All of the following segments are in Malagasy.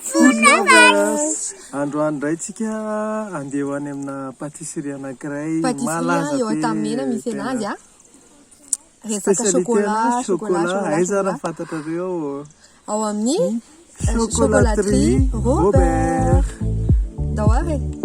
Food lovers! Androany indray tsika andeha ho any amina pâtisserie anankiray malaza be tena spécialité na chocolat, aiza ary fantatrareo ao amin'ny chocolaterie Robert! Ndao ary e!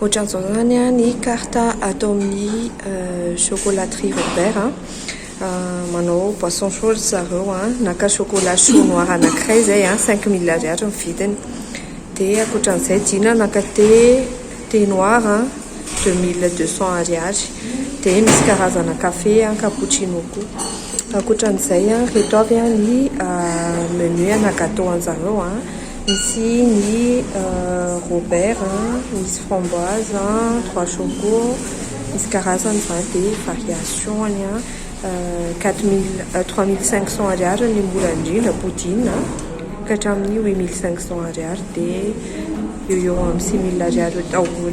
Ohatran'izao izany ny carte ato amin'ny chocolaterie Robert. Manao boisson chaud ry zareo, naka chocolat chaud noir anankiray izay, cinq mille ariary ny vidiny. Dia ankoatran'izay Dina naka thé, thé noir deux mille deux cents ariary. Dia misy karazana kafe, cappuccino koa. Ankoatran'izay, ireto avy ny menu ana gâteau an-dry zareo. Misy ny Robert a, misy framboise, trois choco, misy karazany izany dia variation-ny a, quatre mille, trois mille cinq cent ariary ny mora indrindra poudine a, ka hatramin'ny huit mille cinq cent ariary dia eo eo amin'ny six mille ariary eo daholo.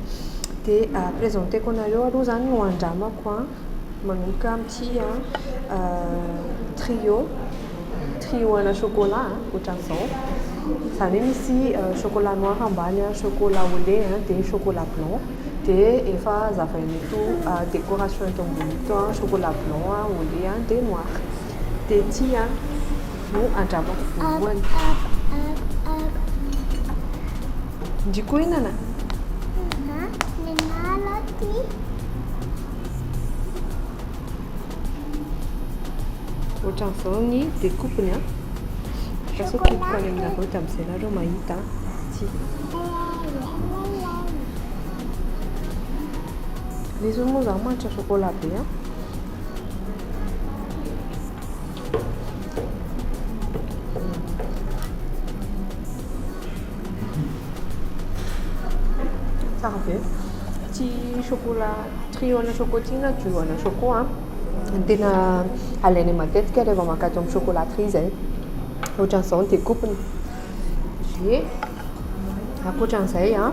dia ampiresenteko anareo aloha izany no andramako an, manomboka amin'ity trio, trio ana chocolat ohatran'izao, izany hoe misy chocolat noir ambany an, chocolat au lait an, dia chocolat blanc, dia efa hazavain'ito décoration eto ambony ito an, chocolat blanc an, au lait an, dia noir. Tety an no andramako voalohany. Ndry koa inana? Ohatran'izao ny découpe-ny an. Lasa kiboko any aminareo dia amin'izay nareo mahita an. Ty. Lesy moa zaho manitra chocolat be an. Tsara be. Tsy chocolat trio ana chocotin na duo ana choco a. Ny tena alainay matetika rehefa mankatỳ amin'ny chocolaterie izay. Ohatran'izao ny découpe-ny. Dia ankoatran'izay a,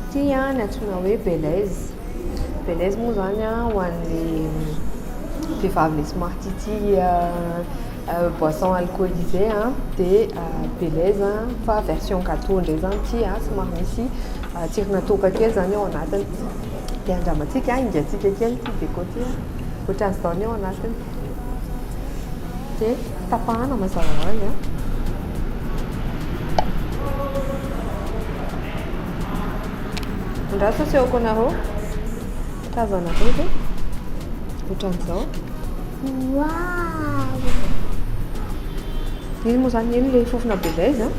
ity a ny antsoina hoe Belize. Belaise moa zany a ho an'ny vehivavy le somary tia tia boisson alcoolisé a dia belaise fa version gateau indray zany ity a somary misy tsirona toaka kely zany ao anatiny dia andramantsika a, engahintsika kely ity déco ity a, ohatran'izao ny ao anatiny. Dia tapahana mazava ho azy. Andraso asehoko anareo. Tazana koa izay. Ohatran'izao. Wow! Iny moa izany iny ilay fofona be izay izany.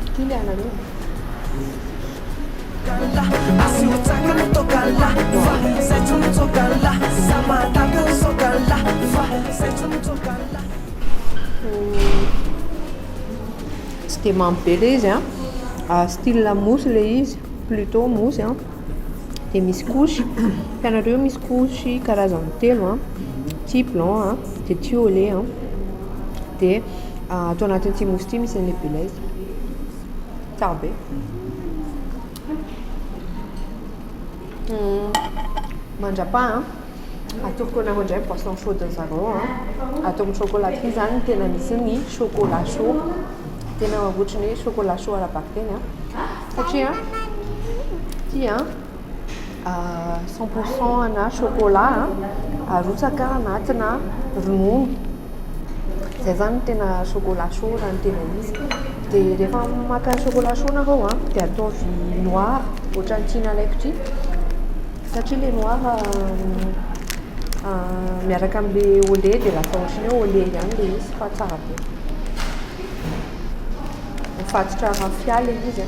Ity ilay anareo. Tsy dia mamy be ilay izy a, style mousse ilay izy, plutot mousse a, dia misy couche, hitanareo io misy couche karazany telo a, ity blanc a, dia ity au lait a, dia ato anatin'ity mousse ity misy an'ilay be lait. Tsara be. Hmm. Mandrapa an. Ah. Atoroko anareo indray boisson chaude zareo an. Ah. Ato amin'ny chocolat ity zany tena misy ny chocolat chaud. Tena ohatry ny chocolat chaud ara-bakiteny an. Ah. Satria tia. cent pour cent ana chocolat arotsaka anatina ronono zay zany no tena chocolat chaud raha ny tena izy de rehefa maka chocolat chaud nareo a de ataovy noir ohatran'ny ty nalaiko ty satria le noir miaraka amle au lait de lasa ohatran'ny hoe au lait ihany le izy fa tsara be mifatotra raphia le izy a.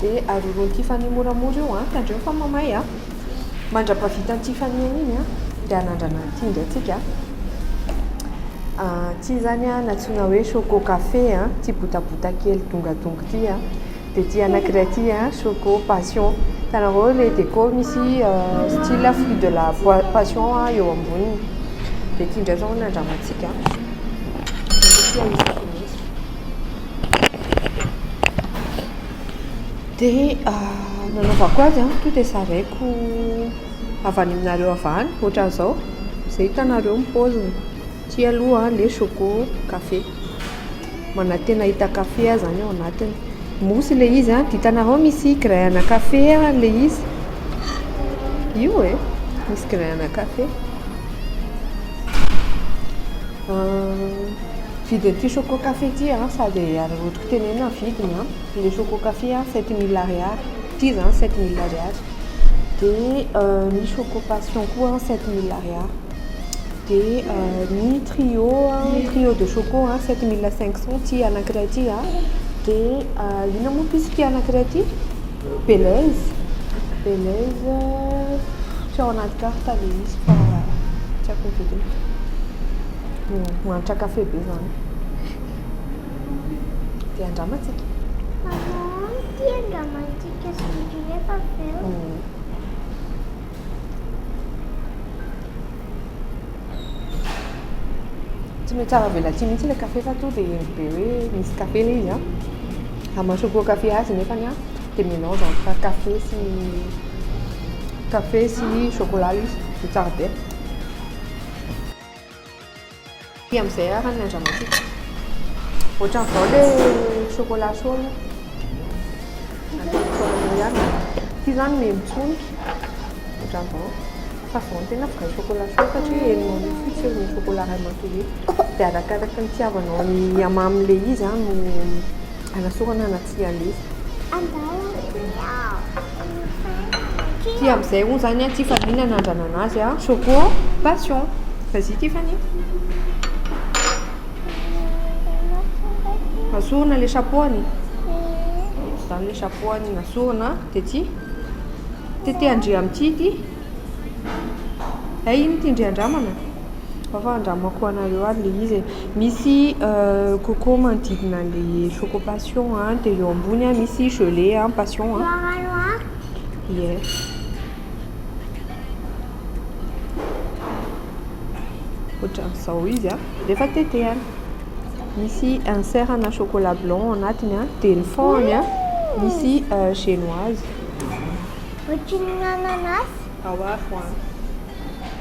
Dia aroroan'i Tiffany moramora eo an, tandremo fa mamay an. Mandra-pahavitan'i Tiffany an'iny an, dia hanandrana ny tsinjo antsika an. Ity izany an, nantsoina hoe choco café an, ity botabota kely dongadonga ity an. Dia ity anankiray ity an, choco passion. Hitanareo ilay déco misy style fruit de la passion eo amboniny. Dia ity indray izao no nandramantsika an. Dia ity anisako mihitsy. dia nanaovako azy an, tonga dia zaraiko avy any aminareo avy any, ohatran'izao, izay hitanareo ny paoziny, ity aloha ilay choco café, manantena hita café aho izany ao anatiny, mousse ilay izy an, dia hitanareo misy grain ana café ilay izy, io e, misy grain ana café, vidin'ity choco café ity an, sady arotsaka. Teneno vidiny an, le choco café an sept mille ariary, ity zany sept mille ariary, de ny choco passion koa an sept mille ariary, de ny trio an, trio de choco an sept mille cinq cent ity anakiray ity an, de inona moa piso ity anakiray ity? Belez, belez tsy ao anaty carte le izy fa tsy aiko ny vidiny, mahantra café be zany. Dia andramantsika. Maman, ity andramantsika sy ny rehefa avy eo. Mm. tsy mety tsara avela aty mihitsy ilay café fa to dia endry be hoe misy café ilay izy a amasoko koa café azy nefany a dia mélange entre café sy café sy chocolat izy dia tsara be Aty amin'izay ara ny andramampitso. Ohatran'ny vao le chocolat chaud io. Ity zany memitsoniky. Ohatran'ny vao. Fa vao ny tena vao chocolat chaud satria enina arivo fotsy eo ny chocolat ray matory. Dia arakaraky ny tiavanao ny hamamy le izy no Anasorana na tsy alefa. Andao aty aho no fainana Ty amzay hono zany an Tiffany nanandrana azy an Choco passion Vas y Tiffany Asorina le chapeau any Zany le chapeau any nasorina de ty Tetehan-dry amin'ity ity Hay iny ty ndry andramana Ao fa andramako ho anareo ary ilay izy e. Misy coco manodidina an'ilay choco passion an, dia eo ambony an misy gelée an passion an. Ie. Ohatran'izao izy an, rehefa tetehana. Misy insert ana chocolat blanc ao anatiny an, dia ny fond-ny an misy génoise. Ohatrin'ny ananas. Ao avy ho any.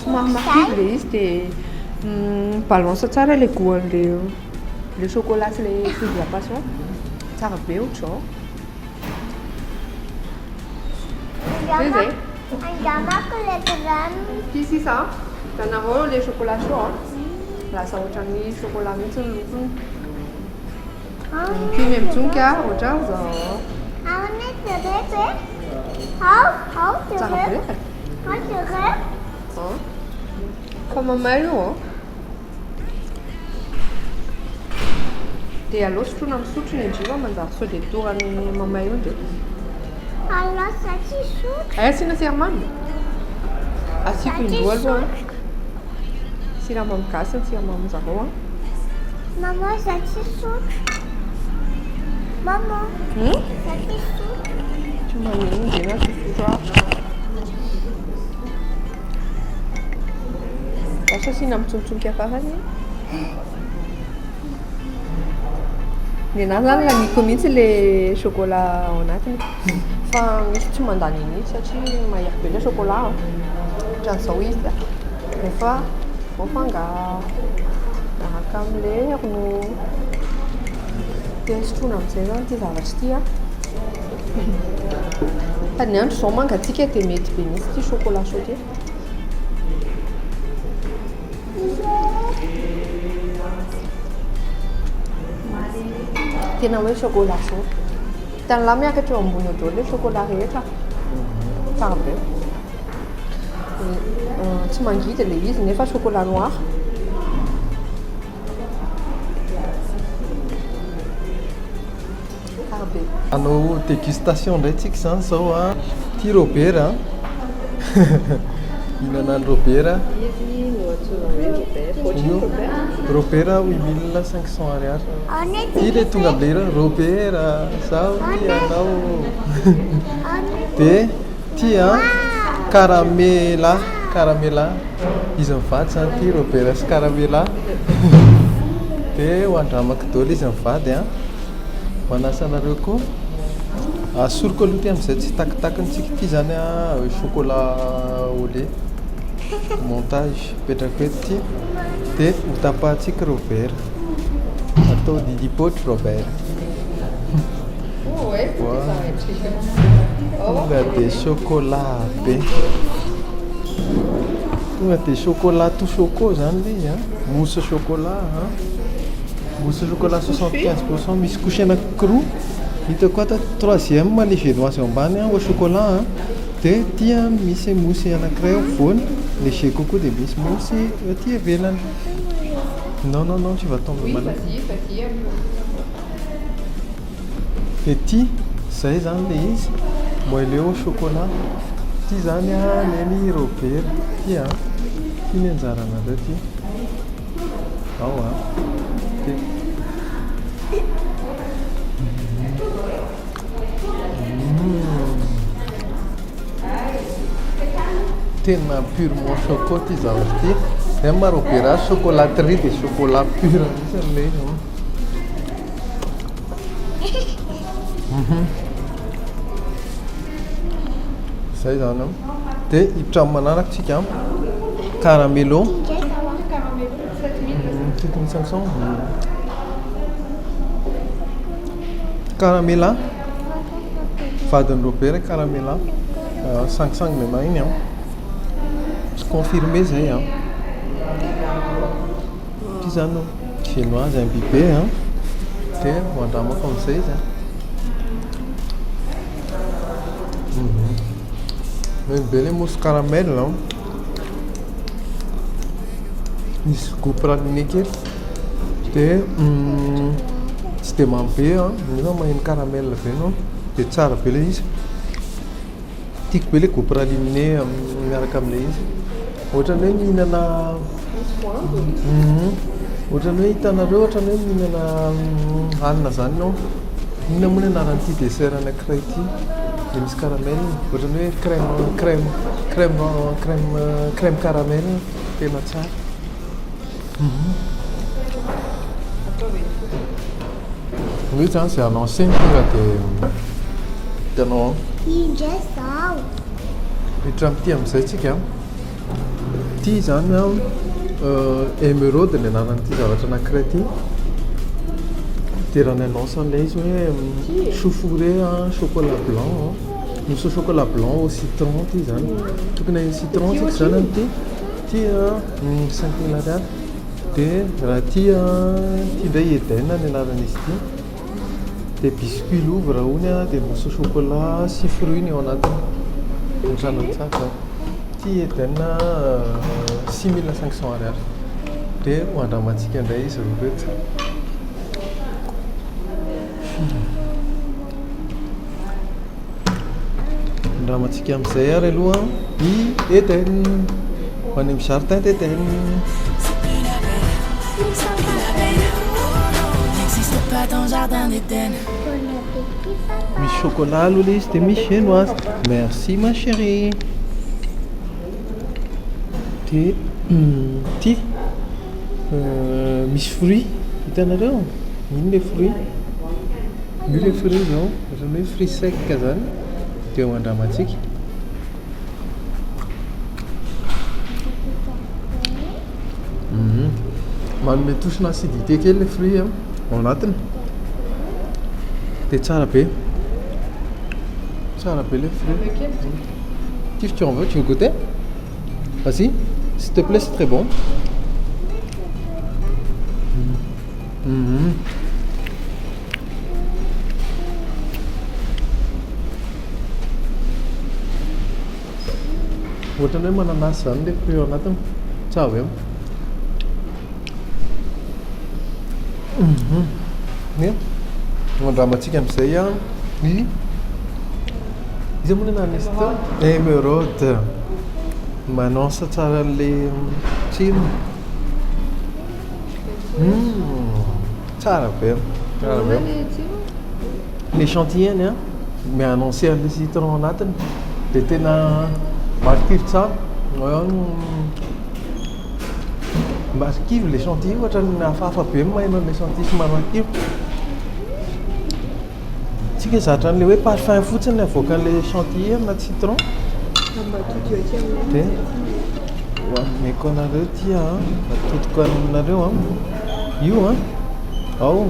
Somary mafidy ilay izy dia mi-balance tsara ilay goût-n'ilay ilay chocolat sy ilay fruit de la passion. Tsara be ohatr'izao. Zay zay. Angamako ilay drame. Ity sisa an, hitanareo ilay chocolat chaud an, lasa ohatran'ny chocolat mihitsy ny lokony. Dimy amby jono ka ohatran zao. Ao ne de rep e. Ao, ao de rep. Ao de rep. Oh. Fa mamay io oh. Dia alao sotroina amin'ny sotro ny jiva manjary sao dia torany mamay io dia. Alao satsi sotro. Eh, sina siramamy. Asiko indroa aloha. Siramamy gasy ny siramamy zareo an. Maman za tsy sotra. Maman. Hmm? Za tsy sotra. Tsy maneno dia na tsy sotra. Asa asiana mitsontsonka farany. Ny anah zany laniko mihitsy le chocolat ao anatiny fa misy tsy mandany an'iny satria mahery be le chocolat a ohatran'izao izy a rehefa voafangaro miaraka am'le ronono dia sotroina am'zay zany ity zavatra ity a fa ny andro zao mangatsiaka dia mety be mihitsy ity chocolat chaud ty Tena hoe chocolat zao. Hitan'ny lahy miakatra eo ambony eo daholo ilay chocolat rehetra. Tsara be. Euh, tsy mangidy ilay izy nefa chocolat noir. Hanao dégustation indray tsika izany izao an! Ity Robert an! Hihinana an'i Robert. Izy no antsoina hoe Robert. Ohatry ny Robert. Robert an, huit mille cinq cents ariary. Ity ilay tonga amin'ilay hira hoe Robert a, izaho hoy ianao ô. Dia ity an, Caramela, Caramela. Izy mivady izany ity Robert sy Caramela. Dia ho an-dRamakidoly izy mivady an! Manasa anareo koa. Asoriko aloha ity amin'izay tsy takitakintsika ity izany an, chocolat au lait. Montage, apetrako eto ity. Dia hotapahantsika ireo vera. Atao didipoitra ireo vera. Tonga dia chocolat be. Tonga dia chocolat tout choco izany ilay izy an, mousse chocolat an. Mousse au chocolat soixante quinze pour cent misy couche anankiroa hitako ato troisième ny viennoise eo ambany au chocolat a dia aty misy mousse anankiray afovoany léger kokoa dia misy mousse aty ivelany non non non tu vas tomber malade dia ity izay izany ilay izy moelleux au chocolat ity izany a neny Robert ity a ity ny anjaranareo ity Tena pur mon choco ty zavatra ty. Zay maro be raha chocolaterie dia chocolat pur mihitsy ilay izy. Mhm. Zay zany an. Dia hiditra amin'ny manaraka isika an. Caramelo. Sept mille cinq cents. Caramela. Vadin'i Robert Caramela. Euh, sangisangy main iny an. Confirmé zay an. Satria izany no feno azy an biby e! Dia ho andramako amin'izay izy an! Mety be ilay mousse caramel an! Misy goût praliné kely dia tsy dia mamy be an, nefa maheno caramel be ianao dia tsara be ilay izy. Tiako be ilay goût praliné miaraka amin'ilay izy. Ohatran'ny hoe mihinana ohatran'ny hoe hitanareo ohatran'ny hoe mihinana hanina izany ianao. Inona moa ilay anaran'ity dessert anankiray ity dia misy caramel? Ohatran'ny hoe crème crème crème crème crème caramel tena tsara. Hoe zany izay annoncé ny hira dia hitanao ao. Tia indray izaho. Miditra amin'ity amin'izay isika. Ity izany emeraude ny anaran'ity zavatra anankiray ity. Dia raha ny annonce an'ilay izy hoe choux fourré chocolat blanc, mousse au chocolat blanc au citron ity izany. Tokony haheno citron isika izany amin'ity. Ity an, cinq mille ariary. Dia raha ity ity indray Eden ny anaran'izy ity dia biscuit louvre hono dia mousse chocolat sy fruit ny ao anatiny ohatrany tsara ity Eden six mille cinq cent ariary dia ho andramantsika indray izy roa ireto. Firy? Andramantsika amin'izay ary aloha i Eden. Ho any amin'ny jardin d'Eden. Misy chocolat aloha ilay izy dia misy genoise. Merci ma chérie. Dia ity misy fruit hitanareo? Iny ilay fruit. Io ilay fruit izao, ohatran'ny hoe fruit sec izany dia ho andramantsika. Manome touche na acidité kely ilay fruit ao anatiny. Dia tsara be. Tsara be ilay fruit. Kif tu en veux, tu veux goûter Vas-y, s'il te plaît, c'est très bon. Mmh. Mmh. Ohatrany hoe mananasy izany ilay fruit ao anatiny. Tsy avy eo. Mhm. Ny andramantsika amin'izay ny Iza moa ilay nanisy teo? Emeraude. M'annonce tsara an'ilay film. Hmm, tsara be. Tsara be. Ny échantillon-ny a, mi-annoncer an'ilay citron anatiny dia tena marikivy tsara. Marikivy ilay échantillon, ohatran'ny hafahafa be ny maha-iman'ny échantillon sy maha-marikivy. Tsy ke zatra an'ilay hoe parfum fotsiny avoakan'ilay chantilly na citron. Ambatodio aty aminay. Dia ho ameko anareo ity a, atodiko aminareo a. Io a, ao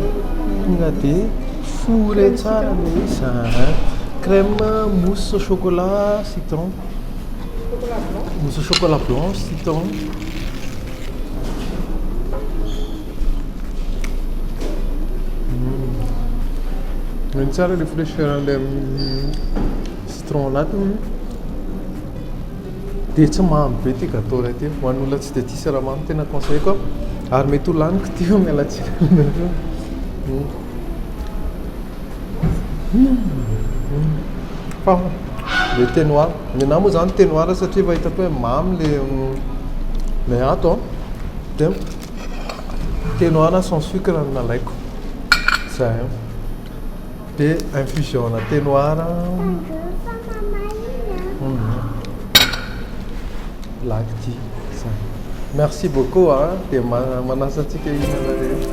tonga dia fourrer tsara ilay izy a. Crème mousse au chocolat citron. Chocolat blanc. Mousse au chocolat blanc citron. Ny tsara ilay fraîcheur an'ilay citron anatiny dia tsy mamy be ity gâteau iray ity. Ho an'olona tsy dia tia siramamy tena conseilleko ary mety ho laniko ity eo, miala tsiny aminareo. Fa ilay thé noir, ny anà moa izany thé noir satria efa hitako hoe mamy ilay ilay ato an. Thé noir na sans sucre no nalaiko za de infusion ana thé noir black tea zany merci beaucoup a de manasa antsika hihinana rehetra.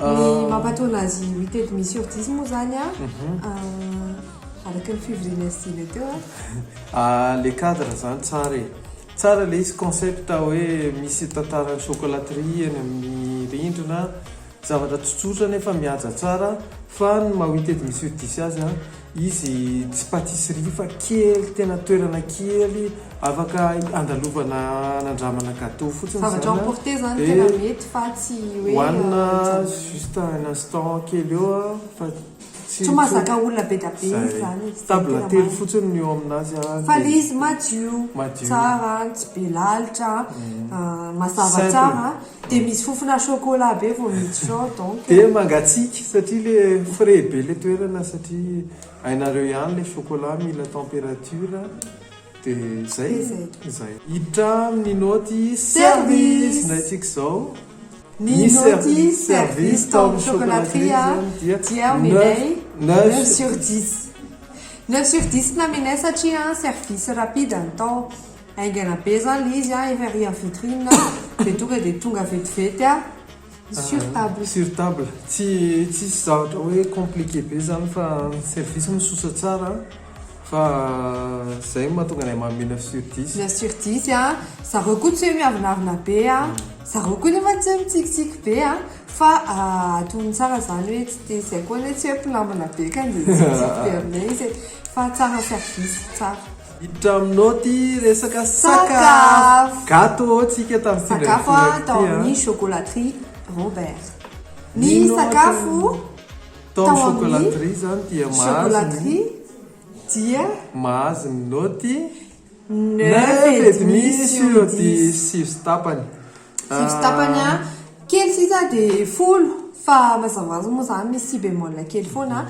Ny mampatoana azy mitety mi surdisy moa zany a, araky ny fivoriana sy zile teo a. Ah le cadre zany tsara e. Tsara le izy concept hoe misy tantaran'ny chocolaterie eny amin'ny rindrina, zavatra tsotsotra nefa mihaja tsara fa ny maha witted mi surdisy azy a. Izy tsy patisserie fa kely tena toerana kely afaka andalovana anandramana gateau fotsiny zany a. Zavatra emporter zany tena mety fa tsy hoe. Hoanina juste un instant kely eo a fa tsy. Tsy mahazaka olona be dia be izy zany e. Table telo fotsiny no eo aminazy a. Fa le izy madio, tsara, tsy be lalitra, mazava tsara. Dia misy fofona chocolat be vao miditra ao donc e. Dia mangatsiaka satria le frais be le toerana satria hainareo ihany le chocolat mila temperature dia zay zay. Hiditra am Ninaoty service indray tsika zao. Ninaoty service tao am chocolaterie a dia omenay neuf sur dix. Neuf sur dix ny namenay satria service rapide ny tao. Haingana be zany le izy a, efa ery en vitrine de tonga de tonga vetivety a sur table. Sur table, tsy tsisy zavatra hoe compliqué be zany fa ny service misosa tsara fa zay mahatonga anay manome neuf sur dix. Neuf sur dix a, zareo koa tsy hoe miavonavona be a, zareo koa nefa tsy hoe mitsikitsiky be a, fa atony tsara zany hoe tsy te zay koa anie tsy hoe mpinambina be ka de mitsikitsiky be aminay izy e, fa tsara service, tsara. Hiditra aminao ty resaka sakafo. Gato ô tsika tam sendra nitoraka ty a. Sakafo a tao amin'ny chocolaterie Robert. Ny sakafo tao amin'ny chocolaterie zany dia mahazo ny dia mahazo ny naoty neuf et demi sur dix, sivy sy tapany. Sivy sy tapany a, kely sisa de folo fa mazava hoazy moa zany misy si bémol kely foana a,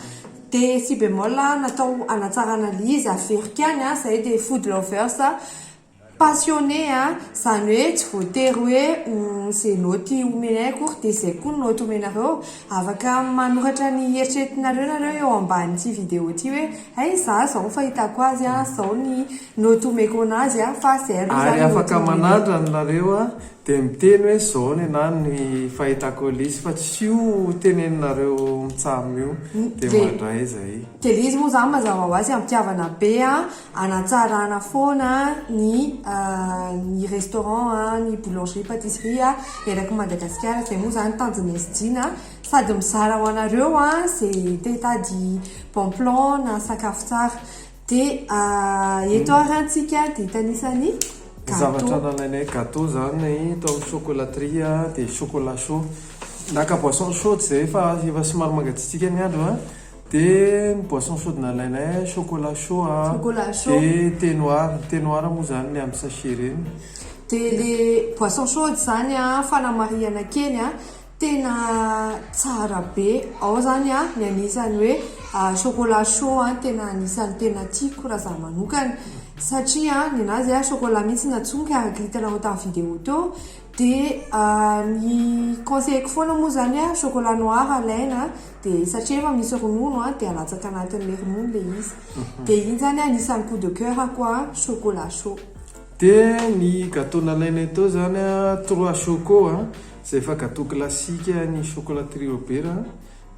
de si bémol natao hanatsarana le izy averiko ihany a, zay de food lovers a, passionné a, zany hoe tsy voatery hoe ho ze naoty omenay akory de zay koa ny naoty omenareo, afaka manoratra ny eritreretinareo nareo eo ambanin'ity vidéo ty hoe hay za zao ny fahitako azy a, zao ny. No to meko anazy a fa sy Herve zany no to meko. Ary afaka manandrana nareo a de miteny hoe zao nenaha ny fahitako Elisy fa tsy io teneninareo mitsam io de mandray aiza i. De le izy moa zany mazava ho azy ampihavana be a anatsarana foana ny ny restaurant a ny boulangerie patisserie a eraky Madagasikara zay moa zany tanjon'i SJ na sady mizara ho anareo a ze te hitady bon plan na sakafo tsara Dia eto ary antsika dia hitanisa ny gateau. Zavatra nalainay gateau izany tao amin'ny chocolaterie dia chocolat chaud. Naka boisson chaude izay fa efa somary mangatsiatsiaka ny andro dia ny boisson chaude nalainay chocolat chaud dia thé noir. Ny thé noir moa izany ny amin'ny sachet ireny. Dia ilay boisson chaude izany fanamarihana kely Tena tsara be ao zany a ny anisany hoe chocolat chaud a tena anisany tena tiako raha za manokana satria a ny anazy a chocolat mihitsy no atsonika araka hitanao tamy video teo de ny conseilleko foana moa zany a chocolat noir alaina de satria efa misy ronono a de alatsaka anatin'le ronono le izy de iny zany anisany coup de coeur ko a chocolat chaud. De ny gateau nalainay teo zany a trois choco a. Zay efa gateau classique an'i chocolat trio be ra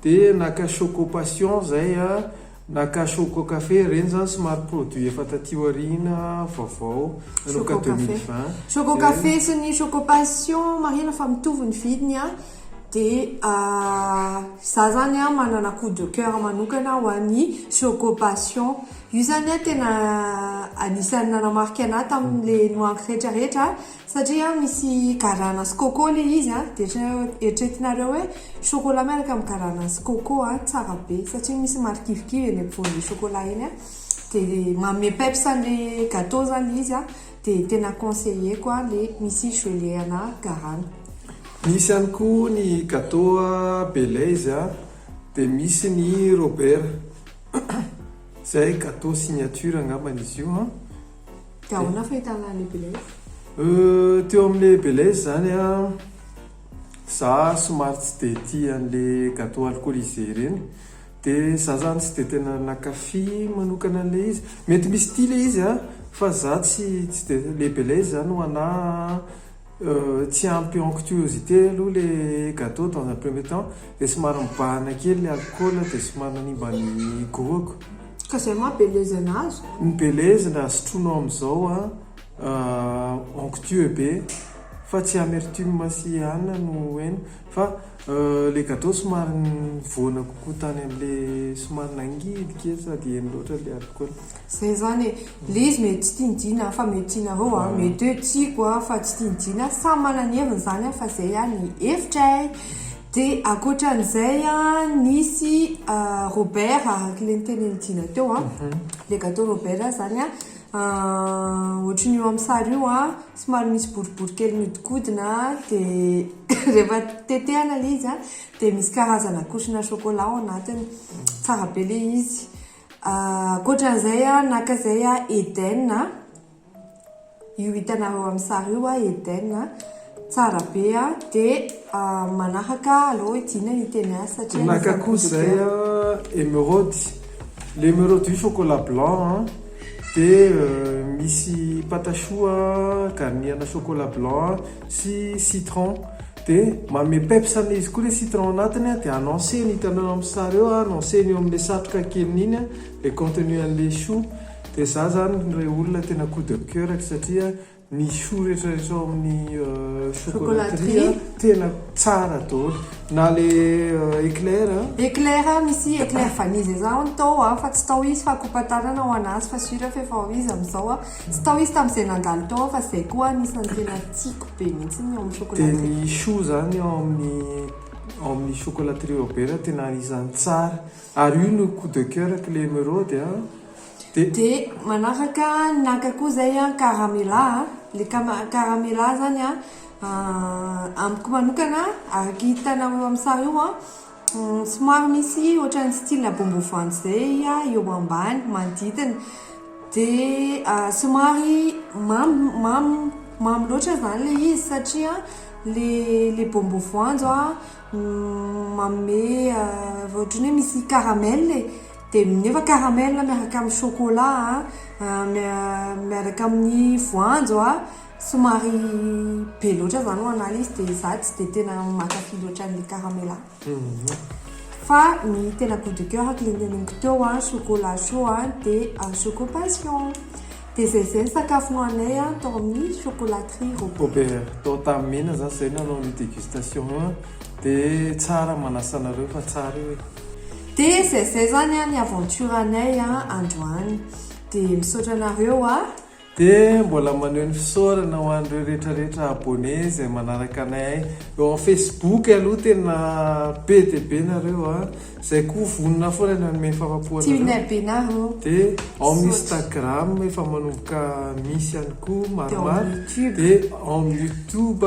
de naka choco passion zay a, naka choco café ireny zany somary produit efa taty aoriana vaovao nanomboka deux mille vingt, choco café sy ny choco passion marihina fa mitovy ny vidiny a, de za zany a manana coup de coeur manokana ho an'ny choco passion, io zany a tena anisan'ny nanamarika anah tamin'le nohaniko retraretra Satria misy garana sy coco le izy a, de eritreretinareo hoe chocolat miaraka amin'ny garana sy coco a, tsara be satria misy marikivikivy eny ampovoan'le chocolat eny a, de manome peps an'le gateau zany le izy a, de tena conseilleko a le misy gelée ana garana. Misy ihany koa ny gateau Belaise a, de misy ny Robert, zay gateau signature angambany izy io an, Dia ahoana ny fahitana an'i Belaise? Euh, teo amin'ilay Belaise izany an, za somary tsy dia tia an'ilay gateau alcoolisé ireny, dia za izany tsy dia tena nankafy manokana an'ilay izy. Mety misy tia ilay izy an, fa za tsy, tsy dia, ilay Belaise izany ho anà an, Euh tsy ampy onctuosité aloha le gateau dans un premier temps dia somary mibahana kely le alcool dia somary nanimba ny goût-ko. Ka zay ma belezana azy? Ny belezina sotroinao amin'izao an euh onctueux be fa tsy amertume sy anona no heno fa euh le gateau somary nivoana kokoa tany amle somary nangidy kely sady heno loatra le alcool. Zay zany e, le izy mety tsy tiany Jina an, fa mety tianareo an, mety hoe tiako an, fa tsy tiany Jina an, samy manana ny heviny zany an, fa zay an ny hevitray, de akoatran'izay an, nisy Robert araka le nitenen'i Jina teo an, le gateau Robert zany an, ohatran'io eo amin'ny sary io an, somary misy boribory kely miodikodina an, de rehefa tetehana le izy an, de misy karazana kosona chocolat ao anatiny, tsara be le izy. Ankoatra an'izay a, naka izay a, Eden a, io hitanareo amin'ny sary io a, Eden a, tsara be a, dia manaraka aleo hidiana ny teny hafa satria anisan'ny Naka koa izay a, Emeraude, ilay Emeraude io chocolat blanc a, dia misy patachoux a, garni ana chocolat blanc sy citron, Dia manome peps an'ilay izy koa ilay citron ao anatiny a, dia annoncer ny hitanao eo amin'ny sary eo a, annoncer ny eo amin'ilay satroka keliny iny a, ilay contenu an'ilay choux. Dia izaho izany ilay olona tena coup de coeur-ko satria ny choux rehetrarehetra ao amin'ny chocolaterie a, tena tsara daholo. Na ilay éclair a. Éclair a, misy éclair vanille izay izaho hono tao a, fa tsy tao izy fa coupe à tanana ho an'azy fa sûr aho fa efa ho izy amin'izao a. Tsy tao izy tamin'izay nandalo tao aho fa izay koa anisan'ny tena tiako be mihitsy ny ao amin'ny chocolat trio. Dia ny choux izany ao amin'ny ao amin'ny chocolat trio be raha tena anisan'ny tsara. Ary io no coup de coeur ko ilay emeraude a. Dia. Dia manaraka naka koa izay an caramela a. Ilay cama caramela izany an amiko manokana araka hitanareo eo amin'ny sary io an. Somary misy ohatran'ny style bongo voanjo izay eo ambany manodidina. Dia somary mamy mamy mamy loatra izany ilay izy satria ilay ilay bongo voanjo manome ohatran'ny hoe misy caramel e. Dia nefa caramel miaraka amin'ny chocolat miaraka amin'ny voanjo Somary be loatra zany ho anah izy dia zah tsy dia tena mankafy loatra an'ilay caramela. Fa ny tena gout de coeur ko le neneniko teo an, chocolat chaud an, dia choco passion. Dia zay zay ny sakafo nohanay an tao amin'ny chocolaterie Robert. Tao Tahamena zah zay nanao ny dégustation an, dia tsara ny manasa anareo fa tsara io e. Dia zay zay zany an ny aventure anay an androany. Dia misaotra anareo an, Dia mbola maneho ny fisaorana ho an'ireo retraretra abonné izay manaraka anay eo am facebook aloha tena be dia be nareo a! izay koa vonona foana ny hanome ny fahafapo anareo dia ao am instagram efa manomboka misy ihany koa maromaro dia ao am youtube